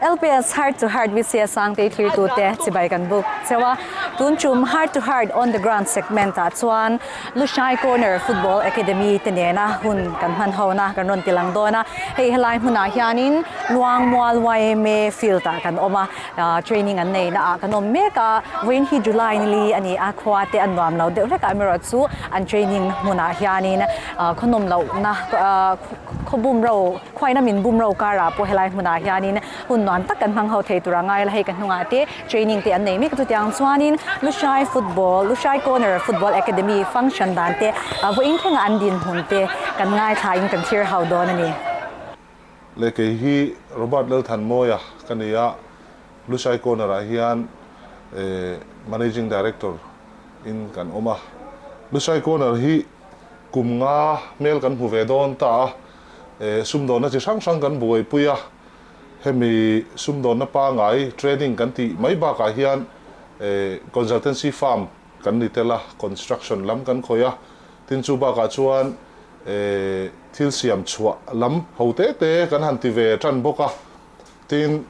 LPS Heart to Heart VCS Sangtei thirtute chibai kan buk cheu a, tun tum Heart to Heart On the Ground segment ah chuan Lushai Corner Football Academy te nena hun kan hmanhona kan rawn ti lang dawn a, hei helai hmunah hianin Luangmual yma field ah kan awm a, training an neihna ah kan awm mek a, vawiin hi July nili a ni a, khua te a nuam lo deuh hlekah meraw chu an training hmunah hianin khawnawnloh na. Khaw bumro, khuaina min bumro karah pawh helai hmunah hianin hun nuam tak kan hmang ho thei tur a ngai a, hei ka hnungah te training te an nei mek chutiang chuanin Luhrai Football, Luhrai Corner Football Academy function dan te vawiin thlengah an dinhmun te kan ngaithlaiin kan thlir hauh dawn a ni. Le kei hi Robert Lalthanmawia ka ni a, Luhrai Corner-ah hian Managing Director in kan awm a. Luhrai Corner hi Kum nga hmel kan hmu ve dawn ta a, eh sumdawnna chi hrang hrang kan buaipui a, hemi sumdawnna pangai training kan tih mai bakah hian eh consultancy firm kan ni tel a, construction lam kan khawih a, tin chu bakah chuan eh thil siam chhuah lam ho te te kan han ti ve tan bawk a, tin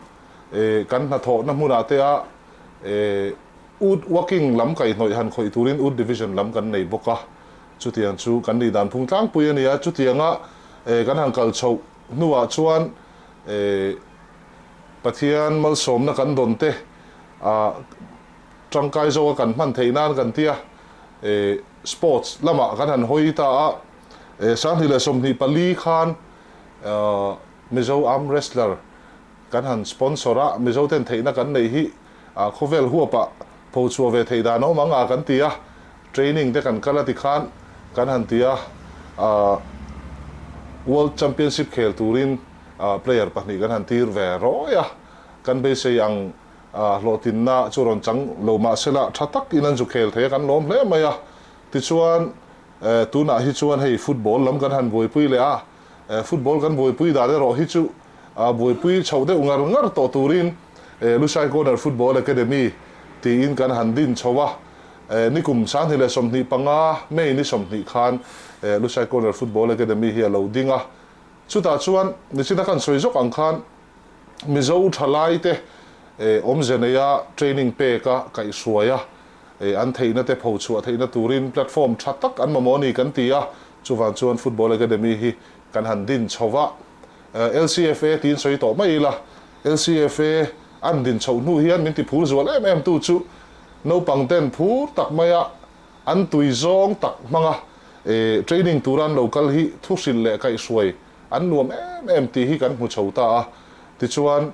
eh kan hnathawhna hmunah te ah eh. Ut Waking lam kaihnawih han khawih turin Ut Division lam kan nei bawk a, chutiang chu kan nih dan phung tlangpui a nia. Chutianga kan han kal chho hnuah chuan Pathian malsawmna kan dawn te a tangkai zawk a kan hman theih nan kan ti a. Sports lamah kan han hawi ta a, sanghnih leh sawmhnih pali khan Mizo Arm Wrestler Kan han sponsor a, Mizo ten theihna kan neih hi a khawvel huapa pho chhuah ve theih dan awm ang a kan ti a, training te kan kal a ti khan kan han ti a, World Championship khel turin player pahnih kan han tir ve rawi a, kan beisei ang hlawhtinna chu rawn chang lo mahsela tha tak in an zu khel thei a kan lawm hle mai a, tichuan tunah hi chuan hei football lam kan han buaipui leh a, Football kan buaipui dan erawh hi chu aa buaipui chhoh deuh ngar ngar tawh turin Lushai Corner Football Academy tiin kan han din chho a, ni kum sanghnih leh sawmhnih panga May ni sawmhnih khan Lushai Corner Football Academy hi a lo ding a, chutah chuan nichin a kan sawi zawk ang khan Mizo thalaite awmze neia training pek a kaih hruai a, an theihna te pho chhuah theihna turin platform tha tak an mamawni kan ti a, Chuvang chuan Football Academy hi kan han din chho va, LCFA tiin sawi tawh mai ila, LCFA an din chho hnu hian min ti phul zual em em tu chu naupang ten phur tak maia an tui zawng tak hmanga training tura an lo kal hi thu hrilh leh kaih hruai an nuam em em tih hi kan hmu chho ta a, tichuan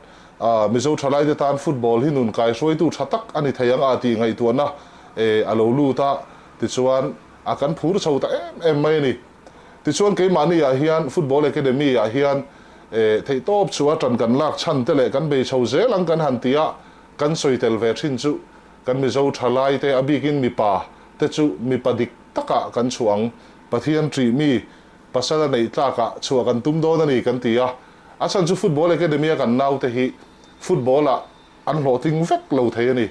Mizo thalaite tan Football hi nun kai hruaitu tha tak a ni thei ang a tih ngaihtuahna a lo lut a, tichuan a kan phur chho ta em em mai a ni. Tichuan keimahniah hian Football Academy-ah hian theihtawp chua tan kan lak chhan te leh kan bei chho zel ang kan han tia kan sawi tel ve thin chu kan Mizo tha lai te a bikin mipa te chu mipa dik takah kan chhuah ang, Pathian ṭih mi pasal a neih tlakah chhuah kan tum dawn a ni kan ti a. A chhan chu Football Academy-a kan naute hi Football-a An hlawhtling vek lo thei a ni.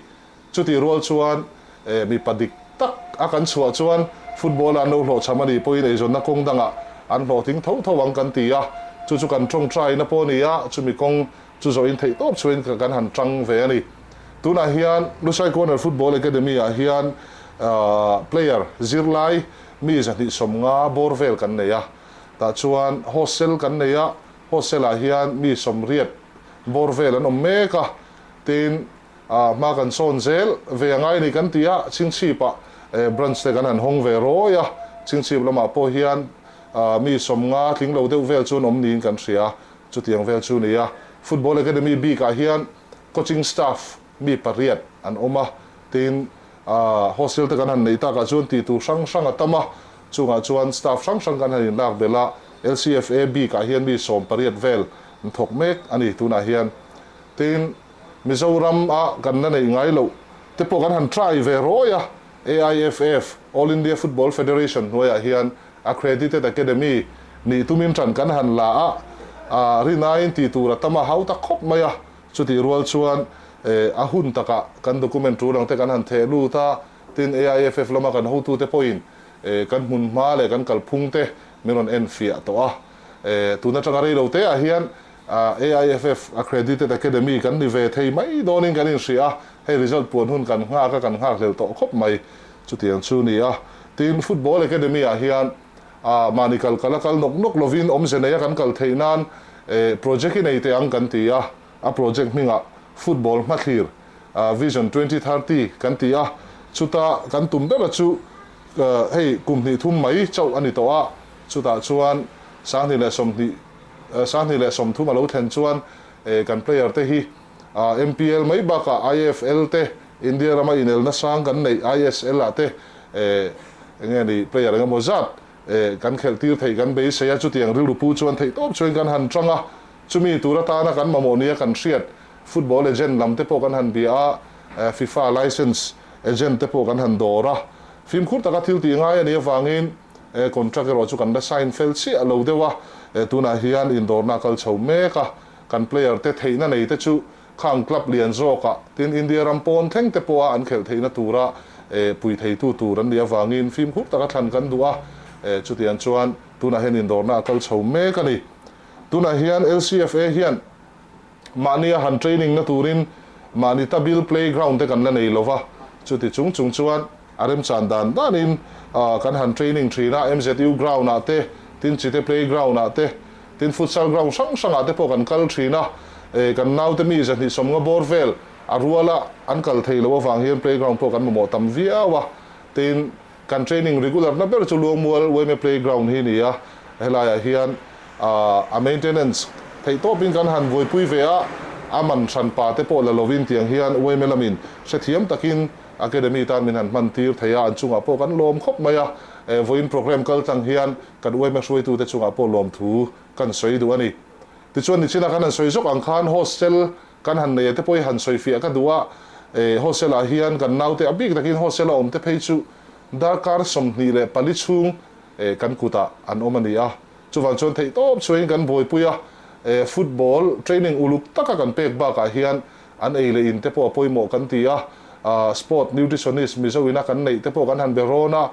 Chutih rual chuan eh mipa dik tak a kan chhuah chuan football-a an lo hlawhchham a nih pawhin eizawnna kawng dangah an hlawhtling tho tho ang kan ti a, chu chu kan tawng try na pawh a ni a, chumi kawng chu zawhin theih tawp chhuain ka kan han tang ve a ni. Tunah hian Lusai Corner Football Academy-ah hian ah player zirlai mi zahnihsawmnga bawr vel kan nei a, tah chuan hostel kan nei a, Hostel ah hian mi sawmriat bawr vel an awm mek a, tin hma kan sawn zel ve angai ni kan ti a, chhingchhip ah branch te kan han hawng ve rawi a, chhingchhip lam ah pawh hian mi sawmnga tling lo deuh vel chu an awm niin kan hria, chutiang vel chu nia. Football Academy bik ah hian coaching staff mi pariat an awm a, tin hostel te kan han neih takah chuan ti tur hrang hrang a tam a, chungah chuan staff hrang hrang kan han inlak belh a, LCFA bik ah hian mi sawm pariat vel an thawk mek a ni tunah hian, tin Mizoram a kan la neih ngai loh te pawh kan han try ve rawi a, AIFF, All India Football Federation, hnuaiah hian Accredited Academy nih tumin tan kan han la a, rinaiin ti tur a tam a, hau tak khawp mai a. Chutih rual chuan eh, a hun takah kan document ṭul angte kan han theh lut a, tin AIFF lama kan hotute pawhin eh, kan hmun hma leh kan kalphungte min rawn en fiah tawh a. Eh, tun aṭanga rei lo te ah hian ah, AIFF Accredited Academy kan ni ve thei mai dawnin kan inhria a, hei result puan hun kan nghak a, kan nghakhlel tawh khawp mai, chuti ang chu ni a. Tin Football Academy ah hian. a, mahni kal kal a kal nawk nawk lovin awmze neia kan kal theih nan eh project i nei teh ang kan ti a, a project hmingah football hmathlir ah vision twenty thirty kan ti a, chuta kan tum bera chu eh hei kum hnih thum mai chauh a ni tawh a, chutah chuan sanghnih leh sawmhnih eh sanghnih leh sawmthum a lo thlen chuan eh kan player te hi. A MPL mai baka IFL te, India rama inelna sang kan neih ISL ah te eh enge a nih player engemaw zat eh kan khelh tir theih kan beisei a, chutiang rilrupu chuan theih tawp chuan kan han tang a, chumi tur atana kan mamawh nia kan hriat, football agent lam te pawh kan han bia a, eh FIFA licence agent te pawh kan han dawr a, fimkhur taka thil tih ngai a nih avangin eh contract erawh chu kan la sign fel chiah lo deuh a, eh tunah hian indawrna a kal chho mek a, Kan player te theihna nei te chu kha an club lian zawk a, tin India ram pawn thleng te pawha an khelh theihna tura pui theitu tur an nih avangin fimkhur taka thlan kan duh a, chutiang chuan tunah hian indawrna a kal chho mek a ni. Tunah hian LCFA hian mahni a han training na turin mahni tabil play ground te kan la nei lo va, chuti chung chung chuan A remchan dan danin kan han training thin a, MZU ground ah te, tin Chite playground ah te, tin futsal ground hrang hrang ah te pawh kan kal thin a, kan naute mi zahnihsawmnga bawr vel a rual a an kal thei loh avang hian playground pawh kan mamawh tam viau a, tin kan training regular na ber chu Luangmual Wayme playground hi ni a, helai ah hian a maintenance theih tawp in kan han buaipui ve a, a man hran pa te pawh la lovin tiang hian Wayme lamin hrethiam takin Academy tan min han hman tir thei a, an chungah pawh kan lawm khawp mai a, eh vawiin programme kal tlang hian kan uaima hruaitute chungah pawh lawm thu kan sawi duh a ni. Tichuan nichinah kan han sawi zawk ang khan hostel kan han neia te pawh hi han sawi fiah ka duh a, eh hostel ah hian kan naute a bik takin hostel a awmte phei chu darkar sawmhnih leh pali chhung eh kan kutah an awm a ni a, chuvang chuan theihtawp chhuain kan buaipui a, eh football training uluk taka kan pek bakah hian An ei leh in te pawh a pawimawh kan ti a, Sport Nutritionist Mizo ina kan neih te pawh kan han be rawn a,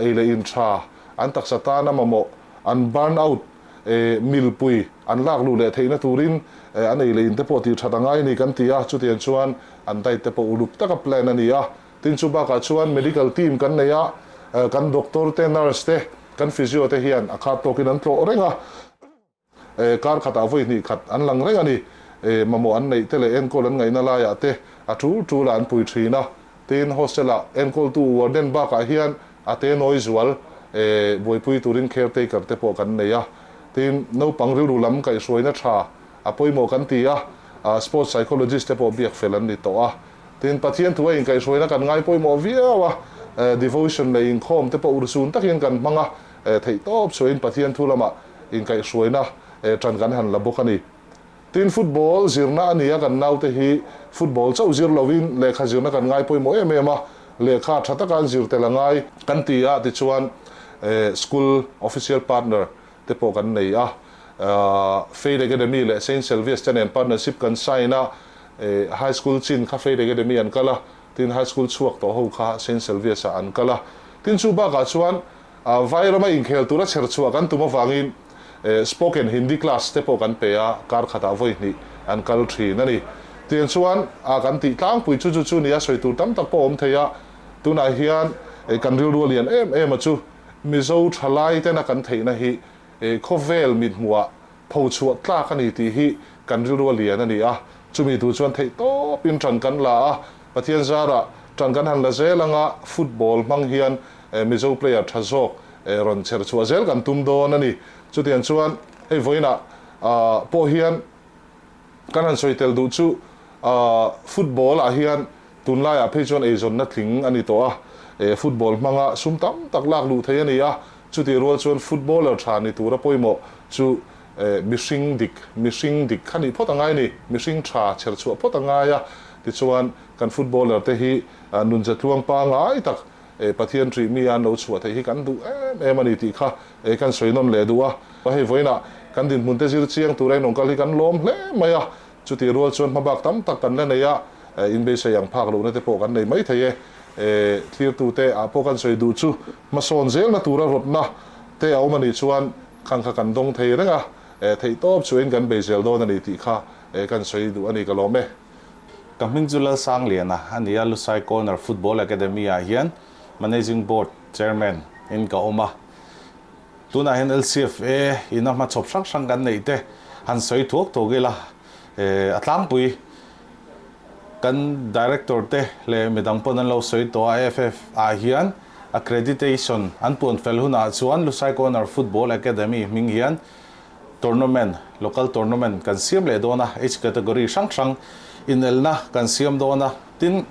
ei leh in tha an taksa tana mamawh, an burn out mil pui an lak luh leh theihna turin an ei leh in te pawh tih that a ngai ni kan ti a, chutiang chuan an diet te pawh uluk taka plan a ni a. Tin chu bakah chuan medical team kan nei a, kan doctor te, nurse te, kan physio te hian a khat tawkin an tlawh reng a, Eh, kar khatah vawi hnih khat an lang reng a ni. Eh, mamawh an neih te leh enkawl an ngaihna laiah te a tul tul a an pui thin a. Tin, hostela enkawl-tu warden bakah hian a te nawi zual, eh, buaipui turin caretaker te pawh kan nei a. Tin, naupang rilru lam kaihhruaina tha a pawimawh kan ti a, ah, sports psychologist te pawh biak fel an ni tawh a. Tin, Pathian thu a inkaihhruaina kan ngai pawimawh viau a, eh, devotion leh inkhawm te pawh ur chun takin kan hmang a, E theih tawp suahin Pathian thu lamah inkaihhruaina e tan kan han la bawk a ni. Tin, football zirna a nia kan naute hi football chauh zir lovin lehkha zirna kan ngai pawimawh em em a, lehkha tha taka an zir tel a ngai. Kan ti a tichuan e school official partner te pawh kan nei a, Faith Academy leh Saint Selvias te nen partnership kan sign a, e high school chin kha Faith Academy an kal a, tin high school chhuak tawh ho kha Saint Selvias ah an kal a. Tin chu bakah chuan Vai rama inkhel tura chher chhuah kan tum avangin spoken Hindi class te pawh kan pe a, kar khatah vawihnih an kal thin a ni. Tiang chuan a kan tih tlangpui chu chu chu nia, sawi tur tam tak pawh awm thei a, tunah hian kan rilru a lian em em a chu. Mizo tha laitena kan theihna hi khawvel mithmuhah Pho chhuah tlak a ni tih hi kan rilru a lian a ni a, chumi tur chuan theih tawp in ṭan kan la a, Pathian zarah ṭan kan han la zel anga football hmang hian Mizo player ṭha zawk rawn chher chhuah zel kan tum dawn a ni, chutiang chuan hei vawiinah pawh hian. Kan han sawi tel duh chu football ah hian tunlai ah phei chuan eizawnna tling a ni tawh a, football hmanga sum tam tak lak luh thei a ni a, chuti rual chuan footballer tha ni tura pawimawh chu mihring dik, mihring dik kha nih phawt a ngai a ni, mihring tha chher chhuah phawt a ngai a, tichuan kan footballer te hi nun zetluang pangai tak Pathian ṭih mi a an lo chhuah theih hi kan duh em em a ni tih kha Ei kan sawi nawn leh duh a, ka hei vawiin ah kan dinhmunte zir chiang tura in awmkal hi kan lawm hle mai a, chutih rual chuan hma bak tam tak kan la nei a, in beisei ang phak lohna te pawh kan nei mai thei e, thirtute ah pawh kan sawi duh chu hmasawn zelna tura rawtna te a awm a nih chuan kan kha kan dawng thei reng a, theih tawp chu in kan bei zel dawn a ni tih kha kan sawi duh a ni ka lawm e. Ka hming chu Lalsangliana a ni a, Lusai Corner Football Academy ah hian Managing Board Chairman in ka awm a, tunah hian LCFA in a hmachhawp hrang hrang kan neih te han sawi thuak thuak ila, a tlangpui kan Director te leh midang pawn an lo sawi tawh a, FF ah hian Accreditation an puan fel hunah chuan Lusai Corner Football Academy hming hian Tournament, Local Tournament kan siam leh dawn a, Age Category hrang hrang inelna kan siam dawn a, tin.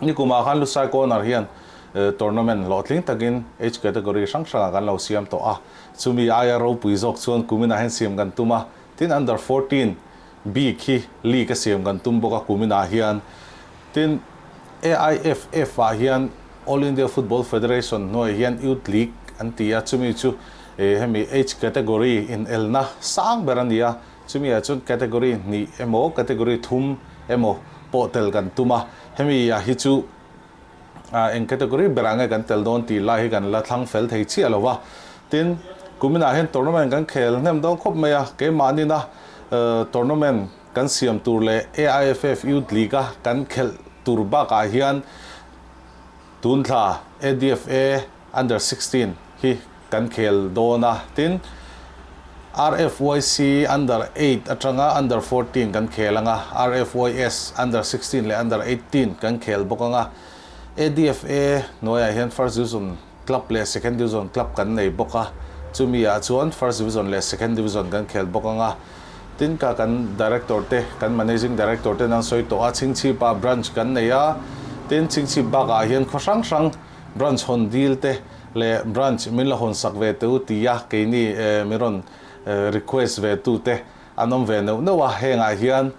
Nikum ah khan Lusai Corner hian Tournament hlawhtling takin Age Category hrang hrangah kan lo siam tawh a, chumi aia ropui zawk chuan kumin ah hian siam kan tum a, tin Under fourteen bik hi League a siam kan tum bawk a kumin ah hian, tin AIFF ah hian All India Football Federation hnuai hian Youth League an ti a, chumi chu hemi Age Category inelna sang ber a ni a, Chumi ah chuan category hnih emaw category thum emaw pawh tel kan tum a, hemi ah hi chu ah eng category berah nge kan tel dawn tih lai hi kan la thlang fel thei chiah lo va. Tin, kumin ah hian tournament kan khel hnem dawn khawp mai a, keimahnin a tournament kan siam tur leh AIFF Youth League a kan khelh tur bak ah hian Tunthla ADFA Under sixteen hi Kan khel dawn a, tin, RFYC Under eight atanga Under fourteen kan khel anga, RFYS Under sixteen leh Under eighteen kan khel bawk anga, ADFA hnuaiah hian First Division Club leh Second Division Club kan nei bawk a, chumiah chuan First Division leh Second Division kan khel bawk anga, tin, ka kan Director te, kan Managing Director ten an sawi tawh a, Chhingchhipa Branch kan nei a, tin, Chhingchhip bakah hian khaw hrang hrang. Branch hawn dil te leh Branch min la hawn sak ve teh u ti a keini min rawn request ve tu te an awm ve neuh neuh a, heng ah hian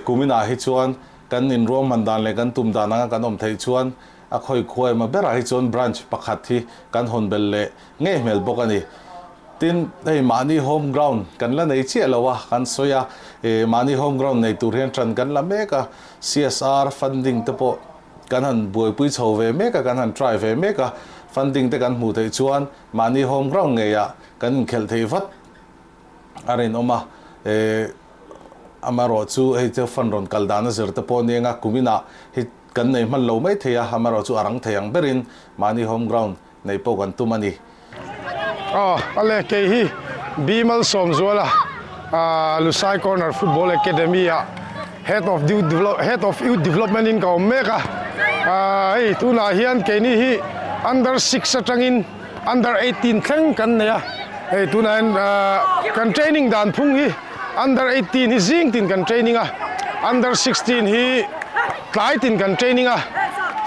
kumin ah hi chuan kan in ruang hman dan leh kan tum dan anga kan awm theih chuan a khawi khuai emaw ber ah hi chuan Branch pakhat hi kan hawn bel leh ngei hmel bawk a ni. Tin, hei mahni home ground kan la nei chiah lo a kan sawi a, mahni home ground nei tur hian tan kan la mek a, CSR funding te pawh, Kan han buaipui chho ve mek a, kan han try ve mek a, funding te kan hmuh theih chuan mahni home ground ngeiah kan inkhelh theih vat a rinawm a, eh amarawh chu hei chu fund rawn kal dana zir te pawh a ni anga kuminah hi kan nei hman lo mai thei a, amarawh chu a rang thei ang berin mahni home ground nei pawh kan tum a ni. Aw a le, kei hi Bimal Sawmzuala Lusai Corner Football Academy-a Head of Head of Youth Development-in ka awm mek a, hei tunah hian keini hi Under six atangin Under eighteen thleng kan nei a, hei tunah hian kan training dan phung hi. Under eighteen hi zing tin kan training a, under sixteen hi tlai tin kan training a,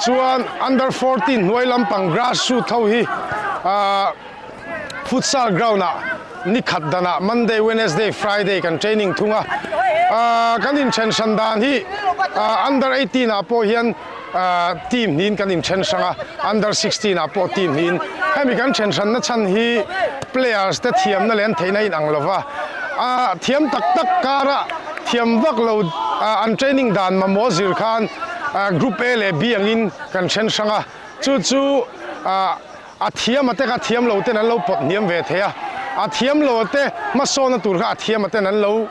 chuan under fourteen hnuai lampang grass root ho hi futsal ground ah ni khat dan ah Monday, Wednesday, Friday kan training thung a, kan inṭhen hran dan hi under eighteen ah pawh hian. team hnihin kan inthen hrang a, under sixteen ah pawh team hnihin. Hemi kan then hranna chhan hi players te thiamna leh an theihna a inang lova, a thiam tak tak kara thiam vak lo an training dan mamawh zir khan group A leh B angin kan then hrang a, chu chu. A thiama te kha a thiam lo ten an lo pawt hniam ve thei a, a thiam lo te hmasawnna tur kha a thiama ten an lo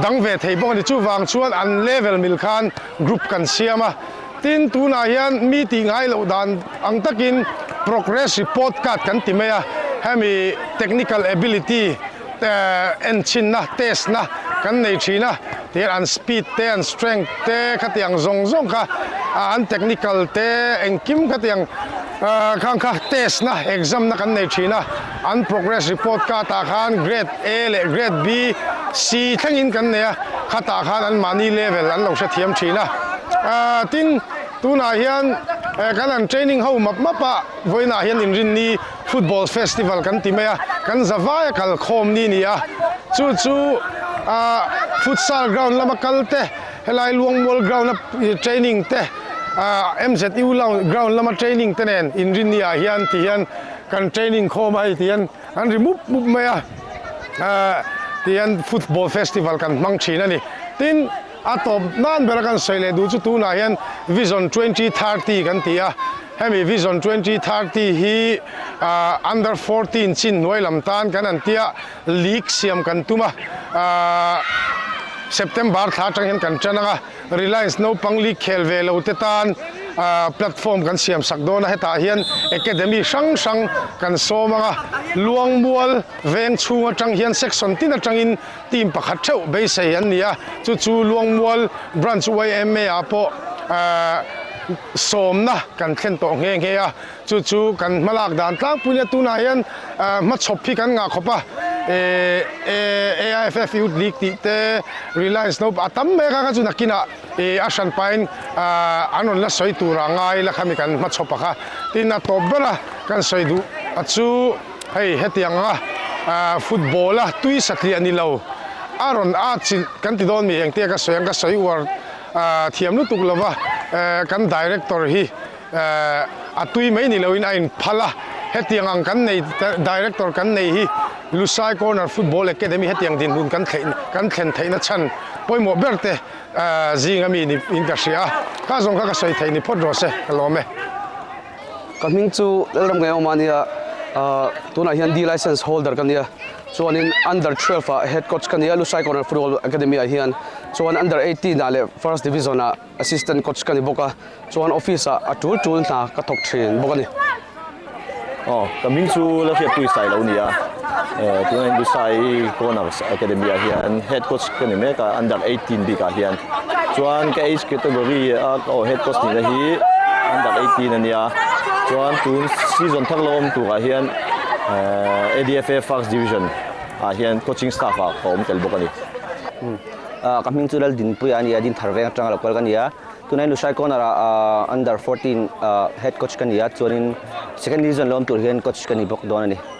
dang ve thei bawk a ni. Chuvang chuan an level mil khan group kan siam a, tin tunah hian mi tihngai loh dan ang takin progress report card kan ti mai a, hemi technical ability, enchinna, test, na kan nei thin a, tih an speed te an strength te khatiang zawng zawng kha an technical te engkim khatiang khang kha test na, exam, na kan nei thin a, an progress report card ah khan grade A leh grade B, C thlengin kan nei a, khatah khan an mahni level an lo hrethiam thin a, tin tunah hian kan an training ho map map a vawiinah hian inrinni Football Festival kan ti mai a, kan zavaia kal khawm ni ni a, chu chu ah Futsal Ground lama kal te, helai Luangmual Ground a Training te ah MZU Ground lama Training te nen inrin ni ah hian ti hian kan Training khawm a, hei ti hian an ri mup mup mai a ah ti hian Football Festival kan hmang thin a ni tin. A tawp nan ber a kan sawi leh duh chu tunah hian vision twenty thirty kan ti a, hemi vision twenty thirty hi aah under fourteen chin hnuai lam tan kan han tia lik siam kan tum a, aah September thla atang hian kan tan ang a, Reliance naupang lik khel ve lo te tan aah platform kan siam sak dawn a, hetah hian academy hrang hrang kan sawm ang a, luangmual veng chhung atang hian section tin atangin. Team pakhat theuh beisei an ni a, chu chu Luangmual Branch YMA ah pawh sawmna kan thlen tawh nghe nghe a, chu chu kan hmalak dan tlangpui nia, tunah hian hmachhawp hi kan ngah khawp a, AIFF Youth League tih te, Reliance naupang a tam mai a, kha kha chu nakinah a hran pahin an rawn la sawi turah ngai la kha mi kan hmachhawp a kha, tin a tawp bera kan sawi duh a chu. Hei hetiang anga ahh football a tui satliah ni lo a rawn a chilh kan ti dawn a ni eng te ka sawi ang ka sawi uar ahh thiam lutuk lo va ehh kan director hi ehh a tui mai ni lo in a in phal a hetiang ang kan nei director kan nei hi Lusai corner football academy hetiang dinhmun kan thleih kan thlen theih na chhan pawimawh ber te ehh zing a mi ni in ka hria a ka zawng kha ka sawi thei ni phawt rawh se ka lawm e. Ka hming chu Lalram Ngayawma a nia, tunah hian D Licence Holder ka nia, chuanin Under twelve ah Head Coach ka nia, Lusai Corner Football Academy ah hian, chuan Under eighteen ah leh First Division ah Assistant Coach ka ni bawk a, chuan Office ah a tul tul hna ka thawk thin bawk a ni. Aw, ka hming chu Lalhriatpuii Sailo a nia. Tunah in Busai Coners Academy ah hian head coach ka ni mek a, under eighteen bik ah hian. Chuan ka age category a ka aw head coach nihna hi under eighteen a nia. Chuan tun season thak lo awm tur ah hian ADFA First Division ah hian coaching staff ah ka awm tel bawk a ni. Ka hming chu Laldinpuia a nia, Dinthar veng atanga lo kal ka nia. Tunah in Lusai Coners ah under fourteen head coach ka nia, chuan in second division lo awm tur hian coach ka ni bawk dawn a ni.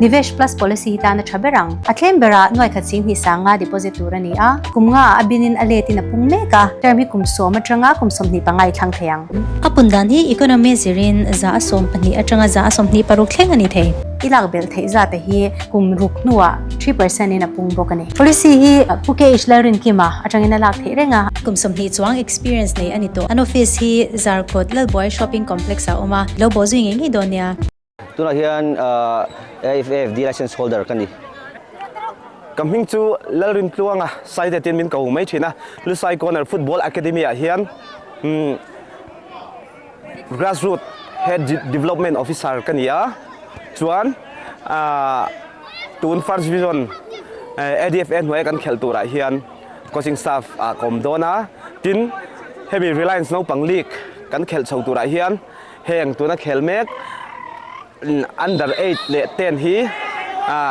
Nivesh Plus policy hi tan a tha ber ang. A claim berah nuaikhat sin hnih sanga deposit tur a ni a, kum nga a binin a let in a pung mek a, term hi kum sawm atanga kum sawmhnih pangai thlang thei ang. A pun dan hi economy zirin za a sawm pahnih atanga za a sawmhnih paruk thleng a ni thei. I lak belh theih zate hi kum ruk hnuah three percent in a pung bawk a ni. Policy hi pu KH Lalrinkima atangin a lak theih reng a. Kum sawmhnih chuang experience nei a ni tawh. An office hi Zarkut Lalbuai Shopping Complex ah a awm a, i lo bawhzui ngei ngei dawn nia. Tunah hian AFAFD Licence Holder ka ni. Ka hming chu Lalrin Tluang a, Saite tin min ko mai thin a. Lusai Corner Football Academy ah hian Grassroot Head Development Officer ka ni a. Chuan tun First Division ADFA hnuaia kan khelh tur ah hian Coaching Staff ah ka awm dawn a. Tin hemi Reliance Naupang League kan khelh chho tur ah hian, Heng tuna khel mek Under eight leh ten hi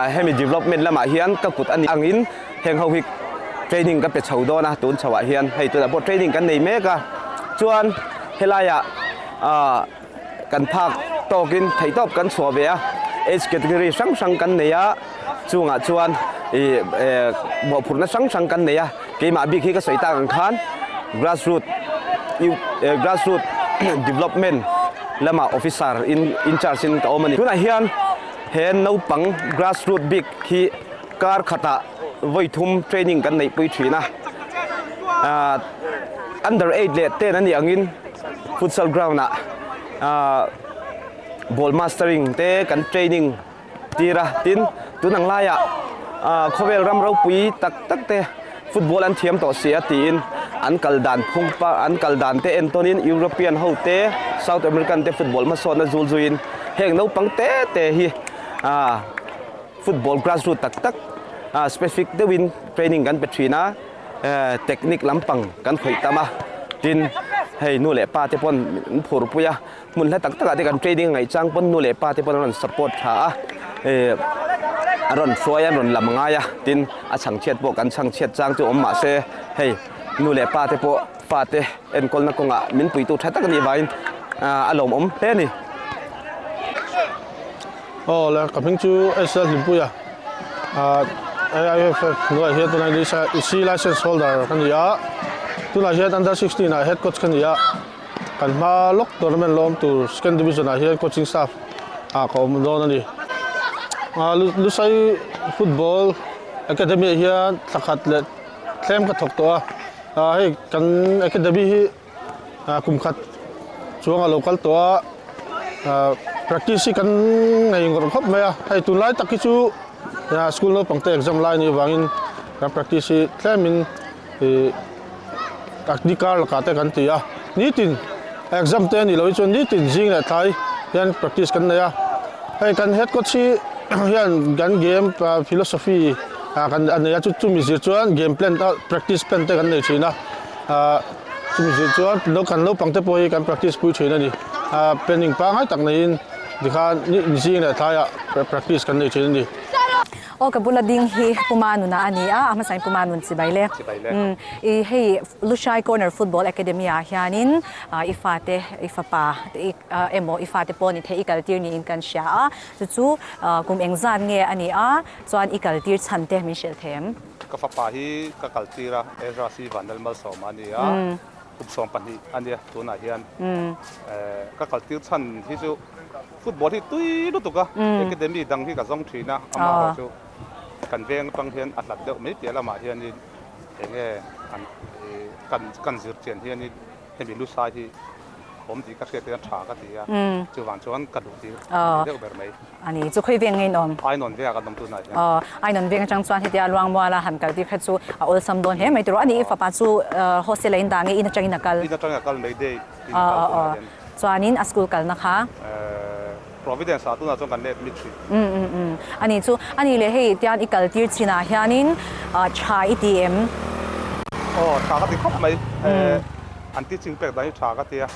hemi development lamah hian ka kut a nih angin heng ho hi training ka pe chho dawn a, tun chhohah hian hei tunah pawh training kan nei mek a. Chuan helaiah kan phak tawkin theihtawp kan chhuah ve a, age category hrang hrang kan nei a. chungah chuan buahphurhna hrang hrang kan nei a, keimah bik hi ka sawi tak ang khan grassroot grassroot development lama officer in in charge in ka awm a ni. Tunah hian he naupang grassroot bik hi kar khata vawi thum training kan neih pui thin a, under eight leh ten a nih angin futsal ground ah ball mastering te kan training, Tira tin tun ang laia khawvel ram ropui tak tak te football an thiam tawh si a tiin an kal dan phung pa an kal dan te en tonin European ho te South American te football hmasawtna zul zuin heng naupang te te hi football grassroot tak tak specific deuhin training kan pe thin a technique lampang kan khawih tam a tin hei nu leh pa te pawn an phur pui a. Hmun hla tak takah te kan training a ngaih chang pawn nu leh pa te pawh an rawn support thla a, ehh an rawn hruai a, an rawn lam ngai a, tin a chhang chhiat pawh kan chhang chhiat chang chu awm mah se hei nu leh pa te pawh fate enkawlna kawngah min puitu tha tak a nih vangin a lawmawm hle a ni. Aw le, ka hming chu Asia Hlimpuii a, ahh AIFF hnuaih hian tunah hian Asia License Holder ka ni a, tunah hian Under sixteen ah Head Coach ka ni a. Kan hma lawk tournament lawm tur second division ah hian coaching staff ah ka awm dawn a ni. Lusai football academy ah hian thla khat leh thlem ka thawk tawh a, hei kan academy hi kum khat chuang a lo kal tawh a, practice hi kan ngei ngawrh khawp mai a, hei tun lai tak hi chu school naupang te exam lai ni vangin kan practice hi thlem in Ih ni kar lakah te kan ti a nitin exam te ani lohi chuan nitin zing leh thlai hian practice kan nei a hei kan head coach hi hian kan game philosophy ah kan a nei a chu chumi zir chuan game plan a practice plan te kan nei thin a ah chumi zir chuan lo kan naupang te pawh hi kan practice pui thin ani ah planning pangngai tak neiin tikhan ni zing leh thlai ah practice kan nei thin ani. Aw ka bula ding hi puma nuna a ni a, a hmasain puma nun chibai le. Chibai le. Umm i hei Lushai Corner Football Academy ah hianin i fate i fapa te emaw i fate pawh ni theih i kal tir niin kan hria a, chu chu kum eng zat nge a ni a chuan i kal tir chhan te min hrilh thlem. Ka fapa hi ka kal tir a Ezra C. Vanel Malsawma a ni a, kum sawm pahnih a nia tunah hian ka kal tir chhan hi chu. Football hi tui lutuk a academy dang hi ka zawng thin a, amah erawh chu kan veng atang hian a hlat deuh mai piah lamah hianin eng nge an kan kan zirtian hianin hemi lu sai hi a awm tih ka hriat hian tha ka ti a, chuvang chuan ka duh tir a ni deuh ber mai. A ni chu khawi veng ngeiin a awm? Ainawn veng a kan awm tunah hian. Aw, ainawn veng atang chuan hetia Luangmuala han kal tir kha chu a awlsam dawn hle mai tur a, a nih i fapa chu hostel a indah nge in atangin a kal? In atangin a kal Mayday tiin a kal tunah hian. Chuanin a school kalna kha. Providence ah tunah chuan kan let mit hrih. Umm umm umm. A nih chu. A nih leh hei tian i kal tir chin ah hianin tha i ti em? Aw, tha ka ti khawp mai. An teaching pek dan i tha ka ti a.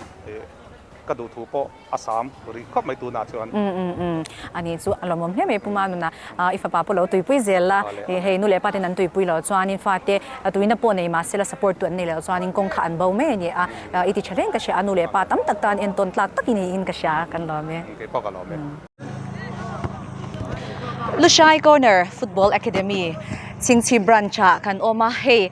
Ka duh thu pawh a sam rih khawp mai tunah chuan. Umm umm umm. A nih chu a lawmawm hle mai puma nuna i fapa pawh lo tuipui zel la. Hei nu leh pa ten an tuipui lo chuanin fate tuina pawh nei mahsela support tu an nei lo chuanin kawngkhar an bo mai a ni a. I ti tha reng ka hria a, nu leh pa tam tak tan entawn tlak tak i ni in ka hria kan lawm e. Engke pawh ka lawm e. Lushai Corner Football Academy Chhingchhi Branch ah kan awm a, hei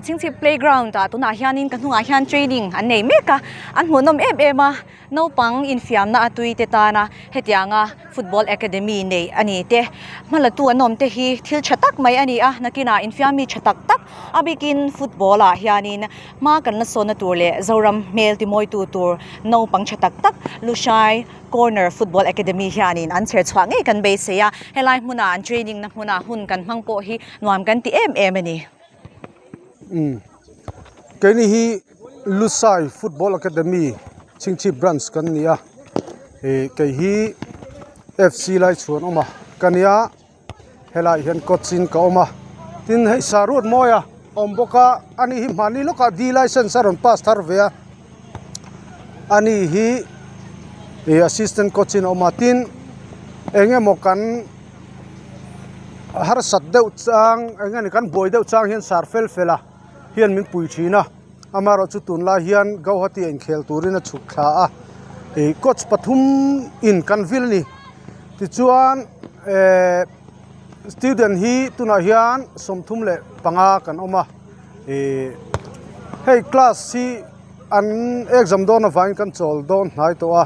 Chhingchhi Playground ah tunah hian in ka hnungah hian training an nei mek a, an hmuhnawm em em a. Naupang infiamna a tuite tana hetianga Football Academy nei a ni te, hma latu an awm te hi thil tha tak mai a ni a, nakinah infiam mi tha tak tak a bikin football-ah hianin hma kan la sawnna tur leh Zoram hmel timawitu tur naupang tha tak tak Lushai Corner Football Academy hianin an chher chhuah ngei kan beisei a, helai hmuna an training-na hmuna hun kan hmang pawh hi nuam kan ti em em a ni. Umm. Keini hi. Lusai football academy chhingchhip branch kan ni a ih kei hi F C lai chhuan awm a ka nia helai hian coach in ka awm a tin hei Saruat mawia awm bawk a a nih hi mahni lawkah D licence a rawn pass thar ve a a ni hi ih assistant coach in a awm a tin eng emaw kan harsat deuh chang eng nge ni kan buai deuh chang hian sar fel fel a. hian min pui thin a, amaherawh chu tunlai hian Gauhati a inkhel turin a chhuk thla a, ih coach pathum in kan vil a ni tichuan ehh student hi tunah hian sawmthum leh panga kan awm a, ih hei class hi an exam dawn avangin kan chawl dawn hnai tawh a,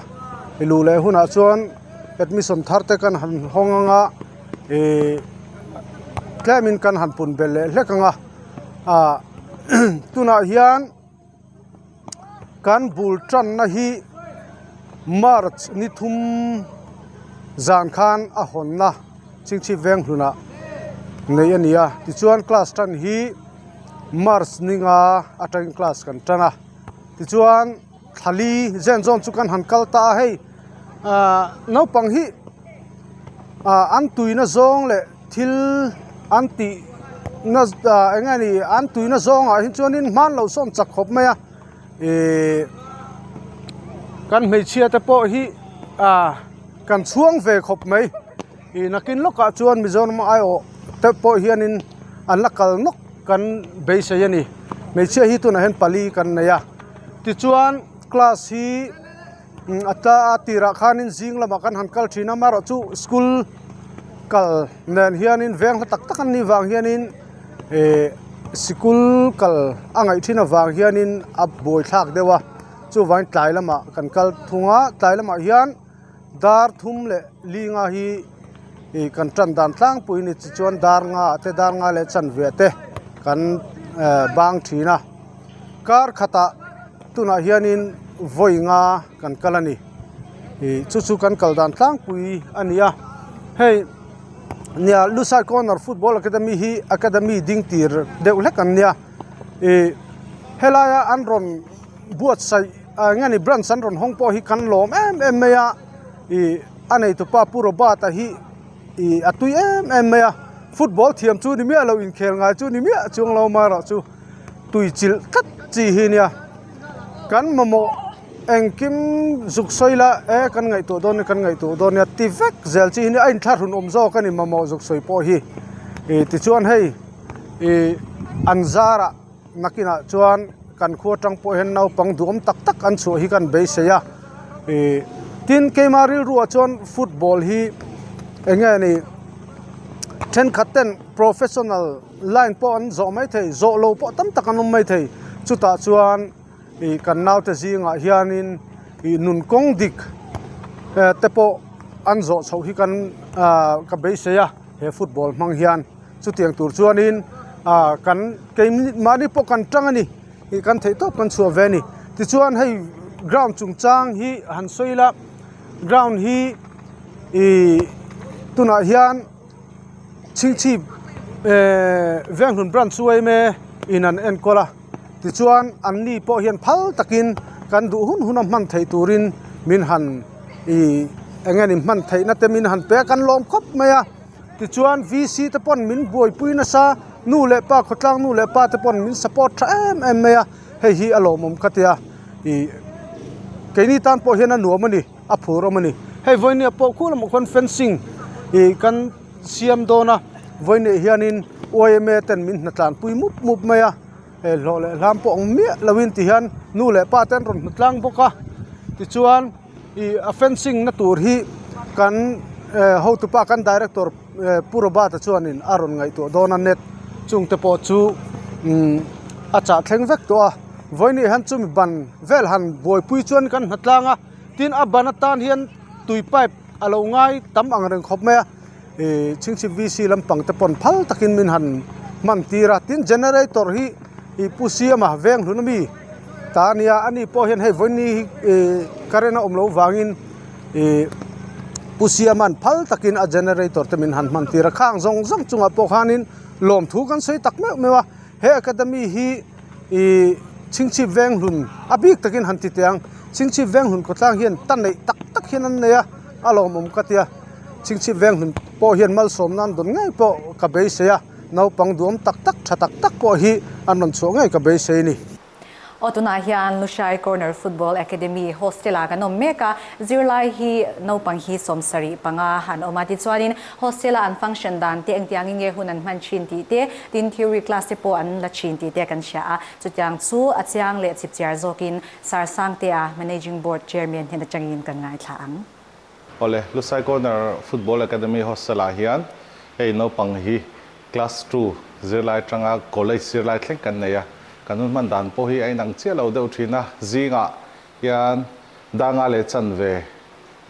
ih luh leh hunah chuan admission thar te kan han hawng ang a, ih tlem in kan han pun belh leh hlek ang a. ah tunah hian kan bul tanna hi march ni thum zan khan a hawn la chhipchhip veng hlun ah nei a ni a tichuan class tan hi march ni nga a ṭan class kan tan a tichuan-- Thali zen zawn chu kan han kal ta a, hei ahh naupang hi ahh an tuihna zawng leh thil an tih na ahh eng nge ni an tuihna zawngah hi chuan in hmanlo sawm chak khawp mai a ihh kan hmeichhia te pawh hi ahh kan chhuang ve khawp mai. Ih nakin lawkah chuan Mizoram a aiawh te pawh hianin an la kal nawk kan beisei a ni hmeichhia hi tunah hian pali kan nei a tichuan class hi a ta a tirah khanin zing lamah kan han kal thin a amaherawhchu chu school kal nen hianin veng hla tak tak an nih vang hianin ihh sikul kal a ngaih thin avang hianin a buai thlak deuh a chuvangin tlai lamah kan kal thung a tlai lamah hian-- Dar thum leh linga hi kan tan dan tlangpui a ni chi chuan dar nga te dar nga leh chanvia te kan bang thin a kar khatah tunah hian in vawi nga kan kal a ni ih chu chu kan kal dan tlangpui a ni a hei nia lusai corner football academy hi academy ding tir deuh hlek an nia ih helaia an rawn-- Buatsaih ah eng emaw branch an rawn hawng pawh hi kan lawm em em mai a, ih a neitupa pu Robert a hi ih a tui em em mai a, football thiam chu ni miah lo inkhel ngai chu ni miah chuang lo mah erawh chu tui chil tlat chi hi nia kan mamawh engkim zuk sawi la e kan ngaihtuah dawn nia kan ngaihtuah dawn nia ti vek zel chi hi nia a in thlahrun awm zawk a ni mamawh zuk sawi pawh hi ih tichuan hei ih an zarah Nakinah chuan kan khua tang pawh hian naupang duhawm tak tak an chhuah hi kan beisei a, tin keima rilruah chuan football hi eng nge ni thenkhat ten professional line pawh an zawh maithei zawhlo pawh tam tak an awm maithei chutah chuan-- ih kan naute zingah hianin ih nun kawng dik eh te pawh an zawh chhoh hi kan ah ka beisei a he football hmang hian chutiang tur chuanin ah kan kei minute mahni pawh kan tang a ni ih kan theih tawp kan chhuah ve a ni tichuan hei ground chungchang hi han sawi la ground hi ih tunah hian-- Chhing chhip eehh veng hlun branch chu aim e in an enkawl a tichuan an ni pawh hian phal takin kan duh hun hun a hman theih turin min han ihh eng nge ni hman theih na te min han pe a kan lawm khawp mai a tichuan vc te pawn min buaipui nasa nu leh pa khawtlang nu leh pa te pawn min support tha em em mai a hei hi a lawmawm ka tia ihh keini tan pawh hian a nuam a ni. a phur awm a ni hei vawinia pawh khuh lamah khuan fencing ih kan siam dawn a vawinia hianin uaia ten min hna tlan pui mup mup mai a he hlawh leh hlam pawh ang miah loin tih hian nu leh pa te an rawn hmu tlang bawk a tichuan ih a fencing na tur hi kan eh hotupa kan director -- Pu Robert-a chuanin a rawn ngaihtuah dawn a, Net chung te pawh chu a chah thleng vek tawh a, Vawinia hian chumi ban vel han buaipui chuan kan hna tlang a, tin a ban atan hian tui pipe a lo ngai tam ang reng khawp mai a, Chhingchhip VC lampang te pawn phal takin min han hman tir a, tin generator hi Pu Siama veng hlun ami. Ta nia a ni pawh hian hei vawiinni hi ih current a awm loh vangin ih pu siaman phal takin a generator te min han hman tir a khang zawng zawng chungah pawh khanin lawmthu kan sawi tak meuh meuh a he academy hi ih chhingchhip veng hlun a bik takin han ti teh ang chhingchhip veng hlun khawtlang hian ta neih tak tak hian an nei a a lawmawm ka tia chhingchhip veng hlun pawh hian malsawm nan dawn ngei pawh ka beisei a. Naupang duam tak tak, tha tak tak pawh hi an rawn chhuah ngei ka beisei a ni. Aw tunah hian Lushai Corner Football Academy hostela kan awm mek a, zirlai hi naupang hi sawm sarih panga an awm a, tichuanin hostela an function dan te engtiang in nge hun an hman thin tih te, tin theory class te pawh an la thin tih te kan hria a, chutiang chu a chiang leh chhipchiar zawkin Sarsangtea Managing Board Chairman hnen atangin kan ngaithla ang. Awle, Lusai Corner Football Academy Hostelah hian hei naupang hi Class Two zirlai atanga College zirlai thleng kan nei a, kan hun hman dan pawh hi a inang chiah lo deuh thin a, zingah hian Danga leh Chanve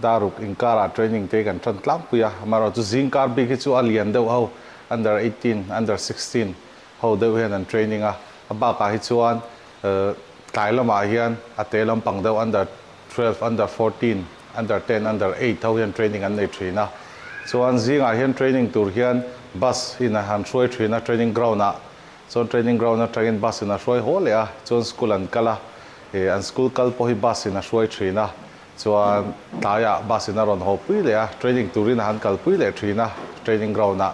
Daruk inkara training te hi kan tan tlangpui a, amaherawhchu zingkar bik hi chu a lian deuh ho, Under eighteen, Under sixteen Ho deuh hian an training a, a bakah hi chuan tlai lamah hian a te lampang deuh under twelve, under fourteen, under ten, under eight ho hian training an nei thin a. Chuan zingah hian training tur hian bus in a han hruai thin a training ground ah, chuan training ground atangin bus in a hruai haw leh a, chuan school an kal a, an school kal pawh hi bus in a hruai thin a, Chuan tlaiah bus in a rawn haw pui leh a, training turin a han kal pui leh thin a training ground ah.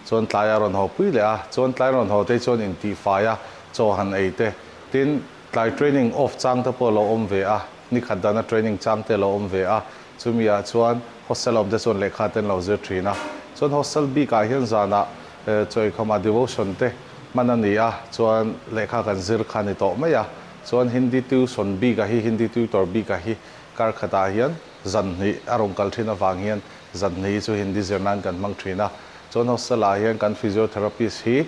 Chuan tlaiah a rawn haw pui leh a, chuan tlai rawn haw te chuan intihfai a chaw han ei te. Tin, tlai training off chang te pawh a lo awm ve a, ni khat dana training chang te a lo awm ve a. Chumi ah chuan hostel a awm te chuan lehkha te an lo zir thin a. Chuan hostel bik ah hian zanah chawi khawmah devotion te hman a ni a, chuan lehkha kan zir kha ni tawh mai a. Chuan Hindi tuition bikah hi, Hindi tutor bikah hi kar khatah hian zanhnih a rawn kal thin avang hian zanhnih hi chu Hindi zir nan kan hmang thin a. Chuan hostel-ah hian kan physiotherapist hi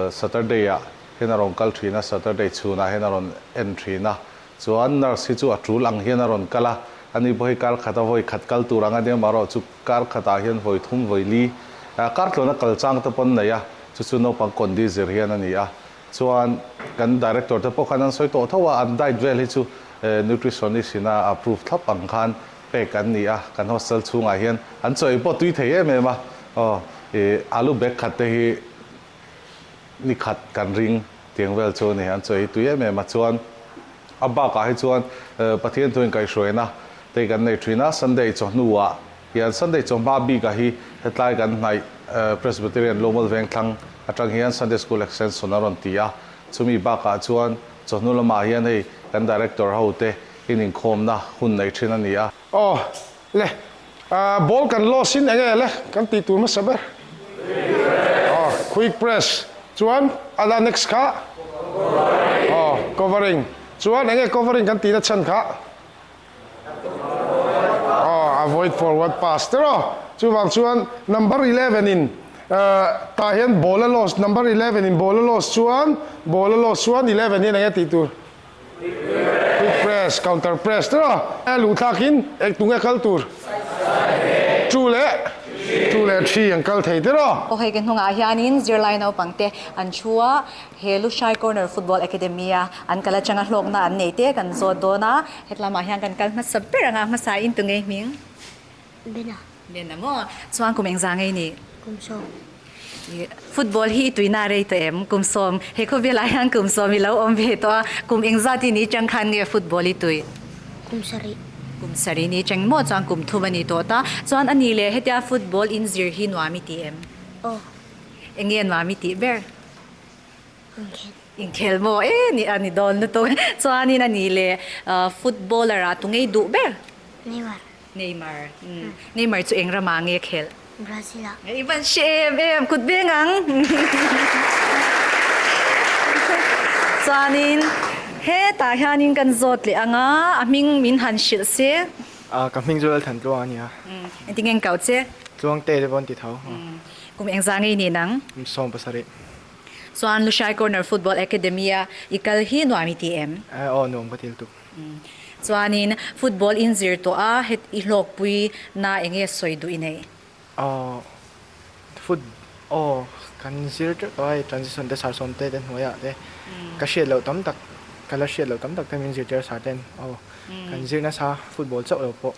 Saturday-ah hian a rawn kal thin a, Saturday chhunah hian a rawn en thin a. Chuan nurse hi chu a tul ang hian a rawn kal a, ani pawh hi kar khata vawi khat kal tur ang a nia, marawh chu kar khatah hian vawi thum vawi li, kar tluana kal chang te pawn nei a, chu chu naupang condy zir hian a ni a. Chuan kan Director te pawh khan an sawi tawh tho a, an diet vel hi chu Nutritionist ina approve thlap ang khan pack an ni a, kan Hostel chhungah hian an chaw ei pawh tui thei em em a, aw i alu bag khat te hi ni khat kan ring tiang vel chu a ni, an chaw ei tui em em a, chuan a bakah hi chuan Pathian thu in kaihruaina te kan nei thin a, Sunday i chaw hnuah. Hian Sunday chaw hma bik ah hi hetlai kan hnaih Presbyterian Lumal Vengthlang atang hian Sunday School Extension a rawn ti a, chumi bak ah chuan chaw hnu lam ah hian hei kan Director ho te in inkhawm na hun nei thin a ni a. Aw le, ah ball kan loss in enge le kan tih tur hmasa ber? Aw Quick Press chuan ala next kha? Aw Covering chuan enge Covering kan tih na chhan kha? Aww avoid forward pass tir aw. Chuvang chuan number eleven in tah hian ball a loss number eleven in ball a loss chuan ball a loss chuan eleven hian eng e tih tur? Quick press counter press tir aw. Eng e luh thlak in eng tung e kal tur? Two leh two leh three an kal thei tir aw. Khawhei ke hnungah hianin zirlai naupangte an thu a, He Lushai Corner Football Academy-a an kal atanga hlawkna an nei te kan zawt dawn a. Hetlamah hian kan kal hmasa ber anga hmasa in tu ngei hming? Bena. Bena maw? Chuan kum engzah ngei nih? Kumsawm. Ih, football hi i tuina a rei tawh em? Kumsawm. He khawvelah hian kumsawm i lo awm ve tawh a, kum engzah ti ni chang khan nge football i tui? Kumsarih. Kumsarih ni chang maw? Chuan kum thum a ni tawh ta. Chuan a ni le, hetia football in zir hi nuam i ti em? Aw. Enge nuam i tih ber? Inkhel maw e nih a ni dawn lutuk chuanin a nih leh footballer a tungei duh ber? Neymar. Neymar. Neymar chu eng ramah ange khelh? Brazil ah. I ban hre em em, kut beng ang. Chuanin hetah hianin kan zawt leh anga a hming min han hrilh se. Ka hming chu Lalthantluang a ni a. Engtin nge an koh che? Tluangte te pawh an ti tho. Kum eng zaa ngei nen ang? Kum sawm pasarih. Chuan Lushai Corner Football Academy a i kal hi nuam i ti em? Eh aw, nuam ka ti lutuk. Chuanin football in zir tawh a, heti i hlawkpui na eng nge sawi duh i neih? Aww, foot, aw, kan zir teuh tawh a, hei transition te sarsawm te te hnuaiah te ka hriat loh tam tak, ka la hriat loh tam tak te min zirtir a sarte'n, aw, kan zir nasa football chauh lo pawh.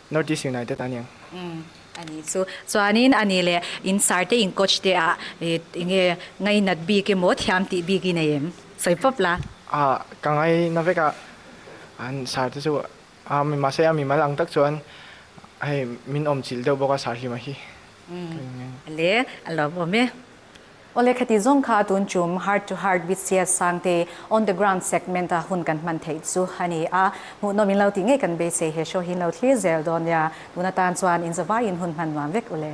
Northeast United a nih ang. A nih chu. Chuanin a nih leh, in sarte in coach te ah eng nge ngai nat bik emaw thiam tih bik i nei em? Sawi pawp la. Ah, ka ngai na vek ah an sarte chu ah mahse a mi mal ang tak chuan hei min awm chilh deuh bawk a sarhlima hi. Leh, a lo awm e. Awle khati zawng kha a tun tum heart to heart bts sang te on the ground segment a hun kan hman theih chu a ni a, hmuhnawm in lo tih ngei kan beisei he show hi in lo thlir zel dawn nia, tuna tan chuan in zavai in hun hman nuam vek ule.